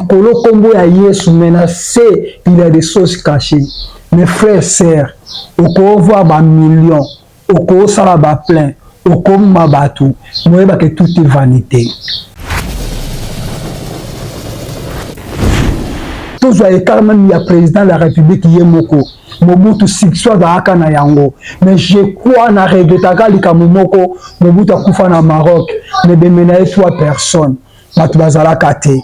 kolo kombo ya yesu mais na se il ya des choses cachées mes frères sœurs okovoa ba million okosala ba plein okoma bato moyeba ke tout est vanité tozwa ekarmami ya président de la république ye moko Mobutu succès azalaka na yango mais je crois na regretaka likambo moko Mobutu akufa na Maroc mais bembe na ye trois personnes bato bazalaka te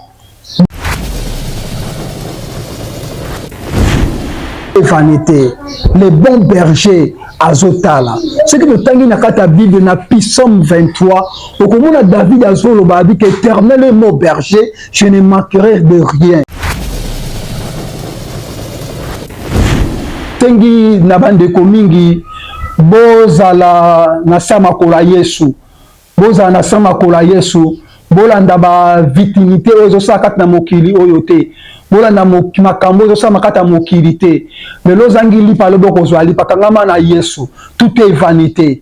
vanité le bon berger azotala soki totangi na kati ya bible na pisome 23 okomona david azoloba abiki éternel mo berger Je ne manquerai de rien. Tengi na bandeko mingi bozala na samakola Yesu, bozala na samakola Yesu, bolanda ba vitimite oyo ezosala kati na mokili oyo te, bolanda makambo oyo ezosala kati ya mokili te. Lelo ozangi lipa, lobi okozwa lipa. Kangama na Yesu, tout est vanite.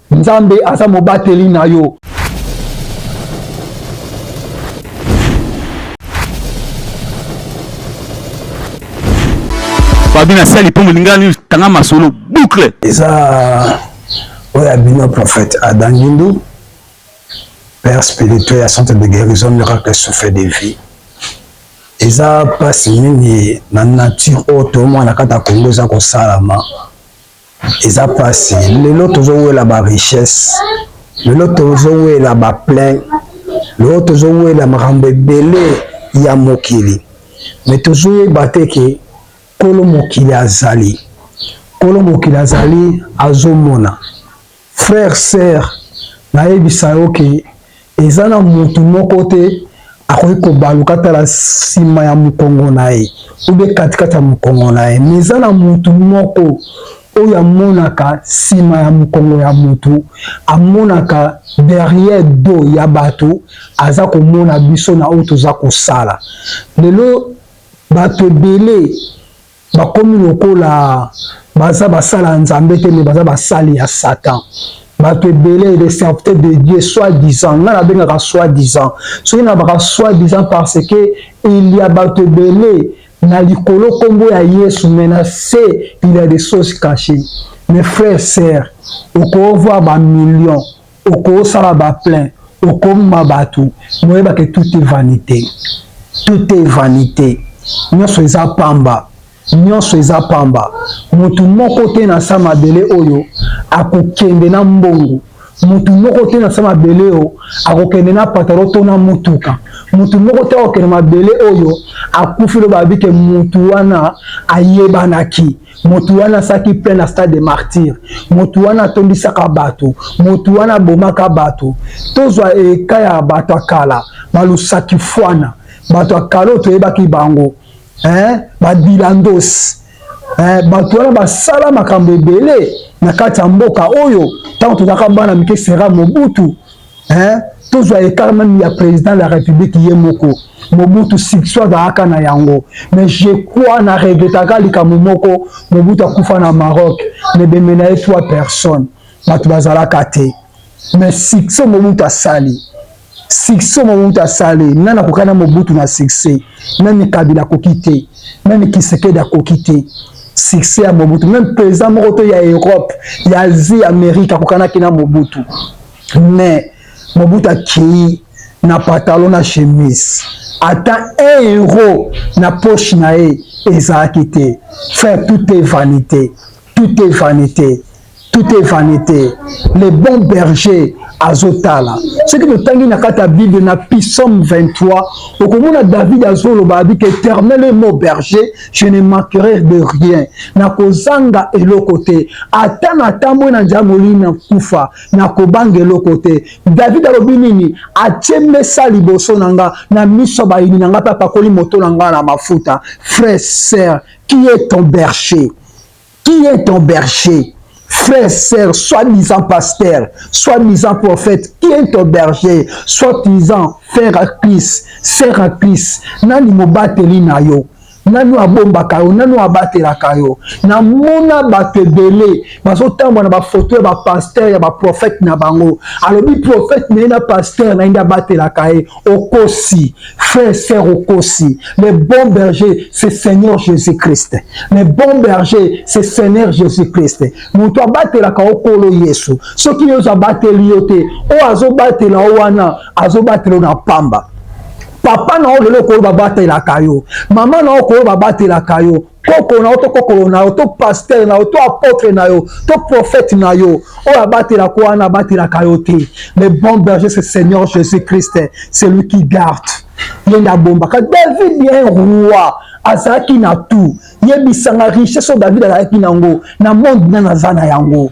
Nzambe aza mobateli na yo. Fabi na sali po molinga ni tanga masolo boucle. Eza oyo ya bino prophète Adangindu père spirituel ya centre de guérison miracle souffle de vie. Eza pasi mingi na nature oyo to mwana kata Kongo eza kosalama. Eza pasi lelo tozo wela ba richesse, lelo tozo wela ba plein, lelo tozo wela makambo ebele ya mokili mais tozo yeba te ke kolo mokili azali, kolo mokili azali azo mona. Frère sœur nayebisa yo ke eza na mutu moko te akoki kobaluka tala sima ya mukongo na ye ube katikati ya mukongo na ye me eza na mutu moko oyo amonaka sima ya mukongo ya mutu amonaka derrière do ya batu aza komona biso na oyo toza kosala lelo batu ebele bakomi lokola baza basala ya nzambe te me baza basali ya satan bato ebele des serviteurs de dieu soit disant ngai nabengaka soit disant soki nabaka soit disant parce que il ya bato ebele na likolo nkombo ya yesu me na se il ya des choses cachées mes frères sœurs okovoir bamillion okosala ba plein okoma bato moyeba ke tout est vanité tout est vanité nyonso eza pamba nyonso eza pamba motu moko te na sa mabele oyo akokende na mbongo motu moko te na sa mabele oyo akokende na patalo to na motuka motu moko te akokende mabele oyo akufi loba abike motu wana ayebanaki Moto wana asalaki plein na stade de martyrs, moto wana atondisaka bato, moto wana abomaka bato. Tozwa eka ya bato ya kala, balusakifwana, bato ya kala oyo toyebaki bango eh, badilandos eh, bato wana basala makambo ebele na kati ya mboka oyo ntango tozalaka bana mike sera mobutu hein tozwa écart même ya président de la république ye moko mobutu sikso azalaka na yango mais je crois na regretaka likambo moko mobutu akufa na maroc mais bembe na ye trois personnes bato bazalaka te mais sikso mobutu asali succès mobutu asali nani akoka na mobutu na succès nani kabila akoki te nani kisekedi akoki te succès ya mobutu meme président moko to ya europe ya asie amerike akokanaki na mobutu mais Mobutu akei na patalo na chemise ata un euro na poche na ye ezalaki te frère tout est vanité tout est vanité tout est vanité le bon berger azotala soki totangi na kati ya bible na pisome 23 okomona david azoloba abiki éternel et mo berger je ne manquerai de rien nakozanga eloko te ata natambwe na njamoli na kufa Nakobanga eloko te. David alobi nini? Atie mesa liboso na nga, na miso ya bayini na nga, mpe apakoli moto na nga na mafuta. Frère, sœur, qui est ton berger? Qui est ton berger? Frère, sœur, soi-disant pasteur, soi-disant prophète, qui est ton berger? Soi-disant frère à Christ, sœur à Christ, nani mobateli na yo? nani abombaka yo nani abatelaka yo namona bato ebele bazotambwa na bafoto ya bapaster ya baprofete na bango alobi profete na ye na paster na ye nde abatelaka ye okosi frère ser okosi le bon berger c'est seigneur jésus christ le bon berger c'est seigneur jésus christ moto abatelaka yo kolo yesu soki yesu abateli yo te oyo azobatela yo wana azobatela yo na pamba papa na yo lelo okoyo babatelaka yo mama na yo okoyo babatelaka yo koko na yo to kokolo na yo to pastere na yo to apotre na yo to profete na yo oyo abatelaka wana abatelaka yo te le bon berger c'est seigneur jésus christ c'est lui qui garde ye nde abombaka david ye roi azalaki na tout yebisanga richesse oyo david azalaki na yango na monde nani aza na yango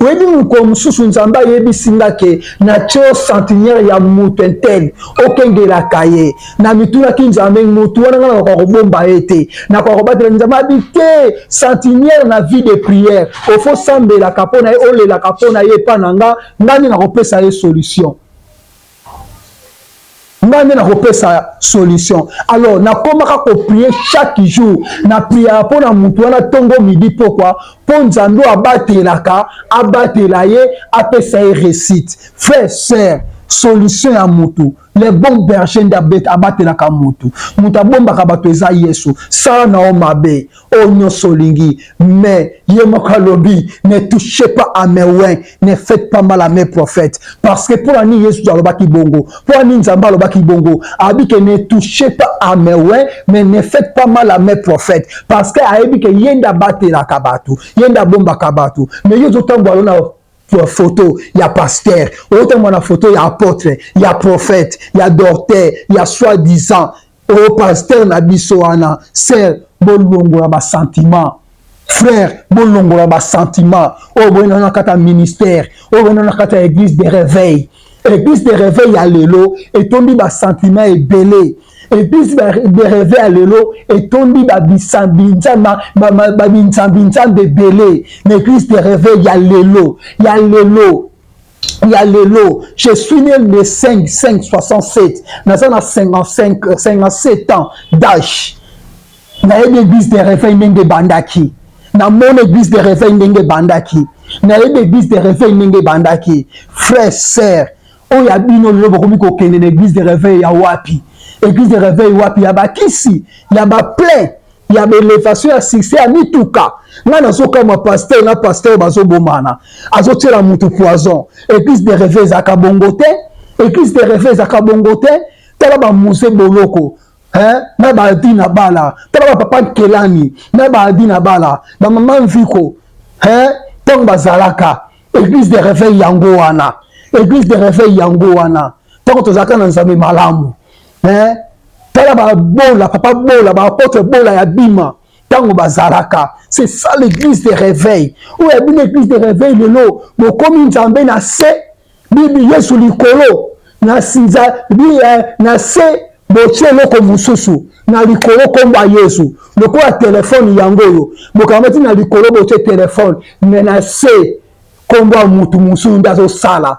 Oyebi mokolo mosusu Nzambe ayebisi nga ke natio centenaire ya moto intel okengelaka ye. Na mitunaki Nzambe moto wana nga nakoka kobomba ye te, nakoka kobatela Nzambe abi te centenaire na vie de prière ofo sambelaka mpo na ye olelaka mpo na ye epa na nga, nga nde nakopesa ye solution. ngai nde nakopesa solution alors nakomaka koprie chaque jour na priere mpo na motu wana ntongo midi pokwa mpo nzambe oyo abatelaka abatela ye apesa ye réussite frère sœur solution ya motu le bon berger nde abatelaka motu moto abombaka bato eza yesu sala na yo mabe oyo nyonso olingi mais ye moko alobi ne touche pas à mes wins ne faites pas mal à mes prophètes parce que mpo na nini yesu alobaki bongo mpo na nini nzambe alobaki bongo abi ke ne touche pas à mes wins mais ne faites pas mal à mes prophètes parce que ayebi ke ye nde abatelaka bato ye nde abombaka bato mais yo ozotambola yo na photo ya pasteur oyotambola na photo ya apôtre ya prophète ya docteur ya soi disant Oh pasteur na biso wana sœur bolongola ba sentiment frère bolongola ba sentiment oyo oh, boyina wana kata ministère oyo oh, boyina wana kata église de réveil église de réveil ya lelo etondi ba sentiment ebele église de réveil ya lelo etondi babisambinzama babinzambinzambe ebele na église de réveil ya lelo ya lelo ya lelo je suis né le 5 5 67 naza na 55 57 euh, ans d'âge nayebi église de réveil ndenge ebandaki namoni église de réveil ndenge ebandaki nayebi église de réveil ndenge ebandaki frère sœur oyo ya bino lelo bokomi kokende na église de réveil ya wapi église de réveil wapi ya bakisi ya baplain ya belevation ya succès ya mituka ngai nazokamwa pasteur na pasteur bazobomana azotyela motu poison église de reve ezalaka bongo te église de reve ezalaka bongo te tala bamuse boloko hein? na baadi na bala tala bapapa nkelani na baadi na bala bamama mviko hein? ntango bazalaka église de reveil yango wana église de reveil yango wana ntango tozalaka na nzambe malamu eh? tala babola papa bola baapotre bola ya bima ntango bazalaka c'est ça l'église de réveil oyo ya bino église de réveil lelo bokomi nzambe na se bibi yesu likolo na eh, se botie eloko mosusu na likolo nkombo ya yesu lokola telefone yango oyo bokamati na likolo botie telefone me na se nkombo ya motu mosusu nde azosala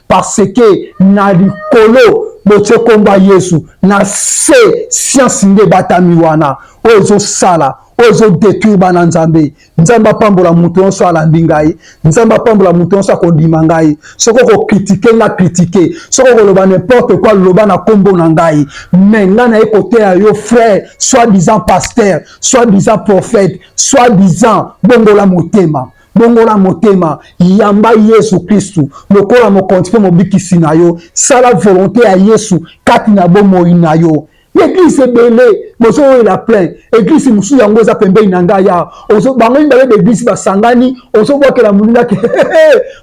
parce que na likolo botie nkombo ya yesu na se siansi nde ebatami wana oyo ezosala oyo ezodetruire bana nzambe nzambe apambola moto nyonso alandi ngai nzambe apambola moto nyonso akondima ngai soki okokritike nga kritike soki okoloba nimporte kua loba na nkombo na ngai me ngai naye koteya yo frère soit disant pasteur soit disant prophète soit disant bongola motema Bongola motema, yamba Yesu Kristu lokola mokonzi mpe mobikisi na yo. Sala volonte ya Yesu kati na bomoi na yo. Eglise ebele bozoyela plein, eglise mosusu yango eza pembeni na ngai ya bango mibale baeglise basangani, ozobwakela moninga ke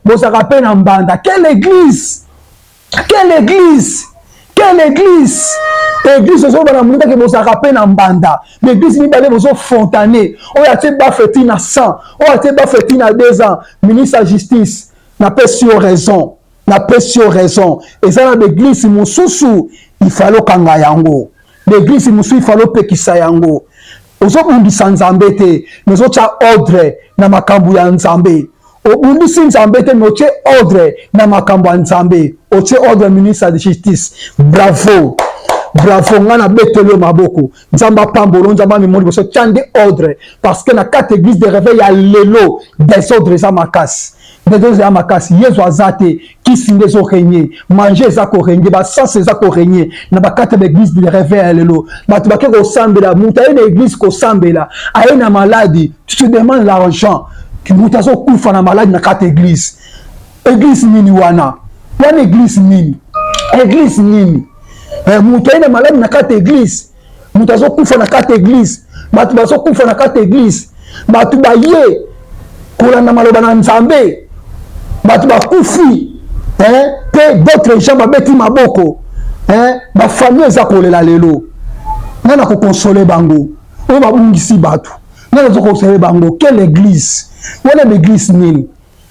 bozalaka mpe na mbanda. Quelle eglise? Quelle église? Quelle église? Église ozo bana muta ke bozaka pe na mbanda. Mais église mibale bozo fontane. Oyo atie ba feti na 100, oyo atie ba feti na 2 ans. Ministre ya justice, na pesi yo raison. Na pesi yo raison. Eza na ba église mosusu il fallait okanga yango. L'eglise musu il fallait opekisa yango. Ozobundisa Nzambe te, mais ozotya ordre na makambo ya Nzambe. obundisi nzambe te me otye ordre na makambo ya nzambe otye ordre ministre de justice bravo bravo ngai nabeteli yo maboko nzambe apambolo nzambe amemoi liboso tya nde ordre parce que na kati église de réveil ya lelo desordre eza makasi Degrés ya makasi Yesu aza te kisi nde ezo règne manger eza ko règne ba sens eza ko règne na ba kati ya ba église de rêve ya lelo bato bake kosambela moto aye na église kosambela aye na maladi tu te demande l'argent moto azokufa na maladi na kati église église nini wana wana église nini église nini eh, moto aye na maladi na kati église moto azokufa na kati eglise bato bazokufa na kati eglise bato baye kolanda maloba na nzambe bato bakufi mpe d'autres gens babeti maboko bafamille eza kolela lelo nani akokonsole bango oyo babungisi bato nani azokonsole bango quelle eglise wana baeglise nini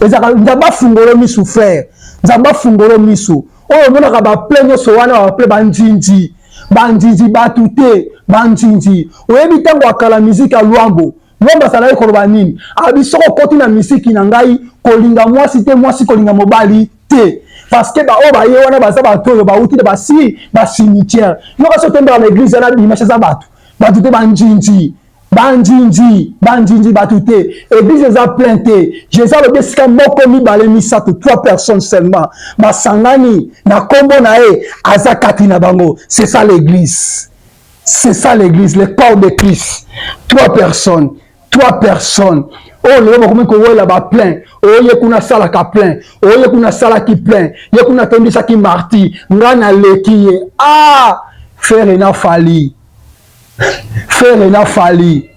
ezalaka nzambe afungolo misu frère nzambe afungolo misu oyo omonaka baple nyonso wana baple banzinzi banzinzi bato te banzinzi oyebi ntango akala miziki ya lwambo lwambo azalaki koloba nini abi soko okoti na miziki na ngai kolinga mwasi te mwasi kolinga mobali te parceke baoyo baye wana baza bato oyo bauti na basi basimitiere yoka so tondaka na eglize wana bimashe aza bato bato te banzinzi Bandjindji, bandjindji batu te, eglise eza plein te. Jesus alobi esika moko mibale misato, trois personnes seulement basangani na kombo na ye, aza kati na bango. C'est ça l'église. C'est ça l'église, le corps de Christ. Trois personnes, trois personnes. oyo lelo bakomi kowela ba plein oyo ye kuna asalaka plein oyo ye kuna asalaki plein ye kuna atondisaki marti ngai naleki ye ah fere na fali Ferre na Fally.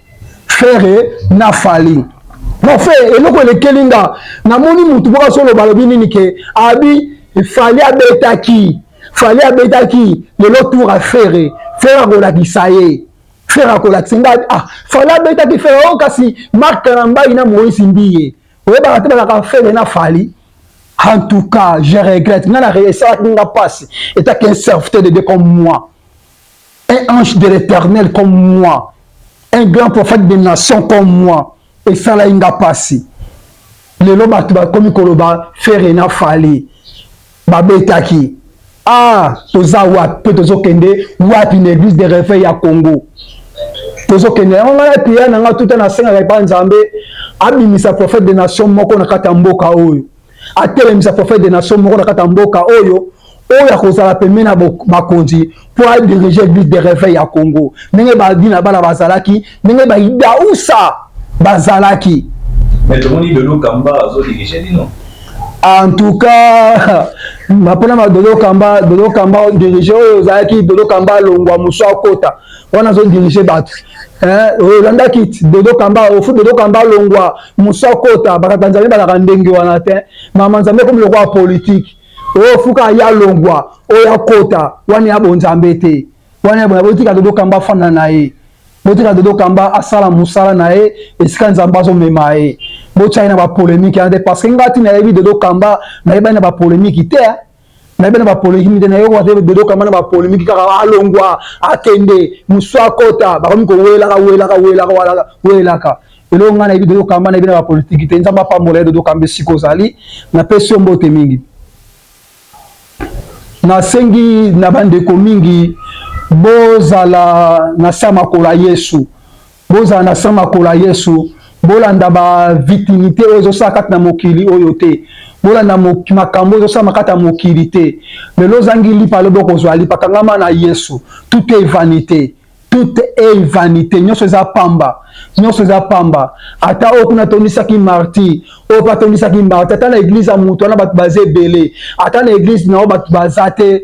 Ferre na Fally. Bon Ferre eloko elekeli nga namoni mutu moko azoloba alobi nini ke abi Fally abetaki Fally abetaki lelo tour ya Ferre. Ferre akolakisa ye. Ferre akolakisa nga ah Fally abetaki Ferre oh kasi Marc Kalambayi na Moïse Mbiye. Oyebaka te balaka Ferre na Fally. En tout cas, je regrette. Nana esalaki nga pasi. Etaki un serviteur de Dieu comme moi. un ange de l'Eternel comme moi, un grand prophète de nation comme moi, esalaki nga pasi. Lelo bato bakomi koloba Ferre na Fally babetaki. Ah, toza wapi mpe tozokende wapi na eglise de reveil ya Congo? tozokende yango ngai priere na ngai tuta nasengaka epai nzambe abimisa prophète de nation moko na kati ya mboka oyo atelemisa prophète de nation moko na kati ya mboka oyo oyo akozala pembeni na bakonzi mpo adirige église de réveil ya congo ndenge badina bana bazalaki ndenge baidausa bazalaki en tout cas mapona ma dodo kamba dodo kamba dirige oyo ozalaki dodo kamba alongwa mosu akota wana azo dirige bato olanda kiti dodo kamba ofu dodo kamba alongwa mosu akota bakata nzambe balaka ndenge wana te mama nzambe ekomi lokola politike oyo fuka ya longwa oyo akota wana ya bonzambe te wana ya bonzambe botika dodo kamba afanda na ye botika dodo kamba asala mosala na ye esika nzambe azomema ye botyai na bapolemike wana te parce que ngati nayebi dodo kamba nayebani na bapolemiki te nayebi na bapolemike na yo ate dodo kama na bapolemike kaka alongwa akende mosu akota bakomi kowelaka welaka welaka welaka welaka eloko ngai nayebi dodo kama nayebi na bapolitiki te nzambe apambola ye dodo kamba esika ozali napesi yo mbote mingi nasengi na bandeko mingi bozala na sa makolo ya yesu Bozala na sang makolo ya Yesu. Bolanda ba vitimite oyo ezosala kati na mokili oyo te. Bolanda makambo oyo ezosalama kati ya mokili te. Lelo ozangi lipa, lobi okozwa lipa. Kangama na Yesu. Tout est vanite. Tout est vanite. Nyonso eza pamba. Nyonso eza pamba. Ata oyo kuna atondisaki marti, oyo mpe atondisaki marti. Ata na eglize ya moto wana bato baza ebele. Ata na eglize na yo bato baza te.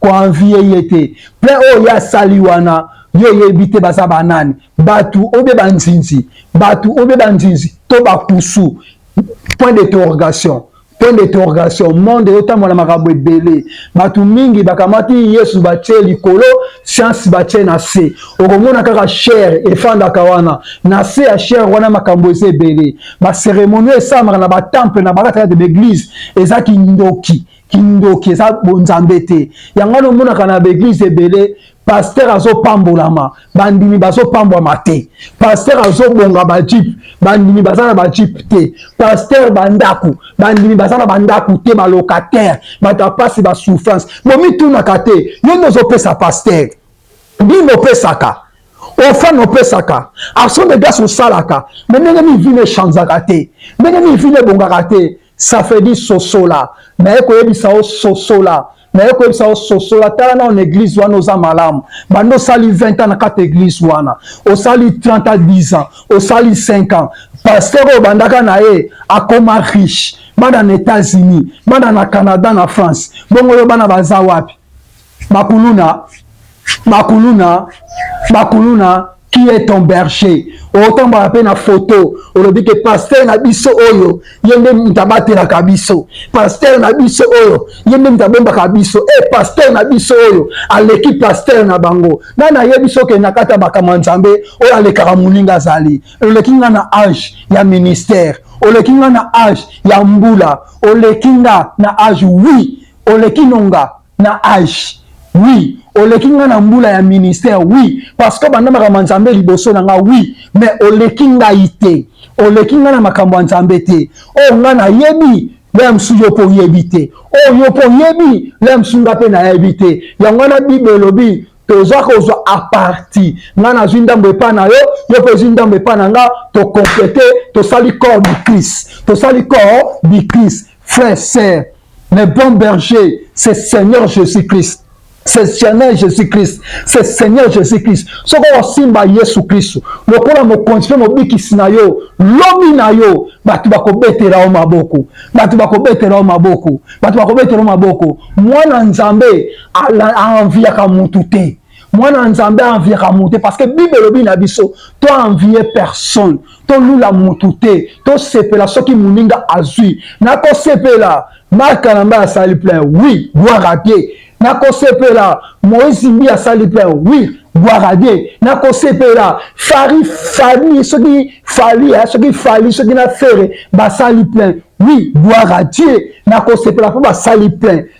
ko envier ye te plein oyo ye asali wana yo oyebi te baza banani batu obe banzinzi batu obe banzinzi to bakusu point d'interrogation point d'interrogation monde eyotambo na makambo ebele bato mingi bakamati yesu batie likolo siansi batie na se okomona kaka shere efandaka wana na se ya shere wana makambo eza ebele baceremonio esalamaka na batemple na bakatakate baeglize eza kindoki kindoki eza bonzambe te yango wana omonaka na baeglize ebele paster azopambolama bandimi bazopambwama te paster azobonga bajipe bandimi baza na bajipe te paster bandako bandimi baza na bandako te balocataire bato ya mpasi basouffrance bomitunaka te yo nde ozopesa paster bino opesaka ofane opesaka action de grâce osalaka me ndenge nini vino echanzaka te ndenge nini vino ebongaka te Ça fait dit sosola naye koyebisa yo sosola naye koyebisa yo sosola tala nao na eglise wana oza malamu banda osali 20 ans na kati eglise wana osali 30 à 10 ans osali 5 ans pasteur oyo obandaka na ye akoma riche bana na états-unis bana na canada na france bongo yo bana baza wapi Bakuluna, bakuluna, bakuluna qui est ton berger otambaka mpe na foto olobi ke paster na biso oyo ye nde moto abatelaka biso paster na biso oyo ye nde moto abombaka biso e eh, paster na biso oyo aleki paster na bango nani ayebi soki okenda kati ya makambo ya nzambe oyo alekaka moninga azali oleki nga na age ya ministère oleki nga na age ya mbula oleki nga na age wi oleki nonga na age oui oleki nga na mbula ya ministère oui parce que banda makambo ya nzambe liboso na nga oui mais oleki ngai te oleki nga na makambo ya nzambe te oyo nga nayebi lea mosusu yo mpo oyebi te oyo yo mpo oyebi lea mosusu nga mpe nayebi te yango wana bible elobi toza kozwa aparti nga nazwi ndambo epai na yo yo mpe ozwi ndambo epai na nga tokomplete tosali corps du christ tosali corps du christ Frère, sœur, le bon berger, c'est Seigneur Jésus-Christ. C'est Seigneur Jésus-Christ. C'est Seigneur Jésus-Christ. Soko osimba Yesu Kristo, lokola mokonzi mpe mobikisi na yo, lobi na yo, bato bakobetela yo maboko. Bato bakobetela yo maboko. Bato bakobetela yo maboko. Mwana Nzambe aenviaka motu te. mwana na nzambe aenviaka moto te parce que bible elobi na biso to envie personne tolula motu te tosepela soki moninga azwi nakosepela mark kanamba asali plein oui gloire à dieu nakosepela moïse mbi asali plein oui gloire à dieu nakosepela fari fali soki fali eh, soki fali soki na fere basali plein oui gloire à dieu nakosepela mpo basali plein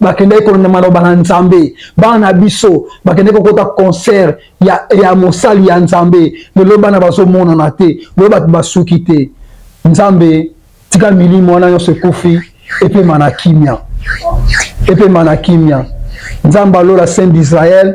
bakendaki kolanda maloba na nzambe bana na biso bakendaki kokota concert ya, ya mosali ya nzambe lelo bana bazomonana te lelo bato basuki te nzambe tika milimo wana nyonso ekufi epema na kimia epema na kimia nzambe alola saint d'israel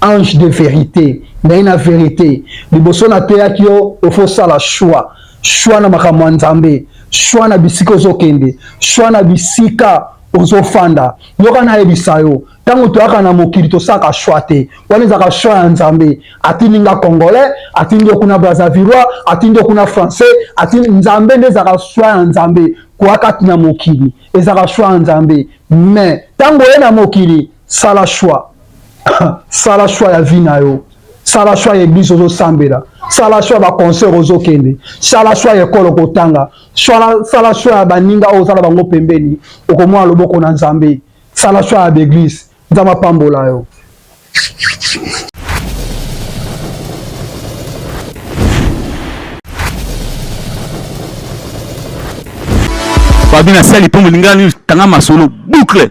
ange de verite naye na verite liboso nateyaki yo ofo sala choix choix na makambo ya nzambe choix na bisika ozokende choix na bisika ozofanda yoka nayebisa yo ntango toyaka na mokili tosalaka shwa te wana ezalaka shwa ya nzambe atindi nga congolais atindi yo kuna brazavilois atindi yo kuna français atindi nzambe nde ezalaka shwa ya nzambe koya kati na mokili ezalaka shwa ya nzambe mais ntango oye na mokili sala shwa sala choix ya vie na yo sala choix ya eglise ozosambela sala choix ya baconcert ozokende sala choix ya ekolo okotanga sala choix ya baninga oyo ozala bango pembeni okomona loboko na nzambe sala choix ya baeglise nzambe apambola yo babi nasali mpo molingani tanga masolo boucle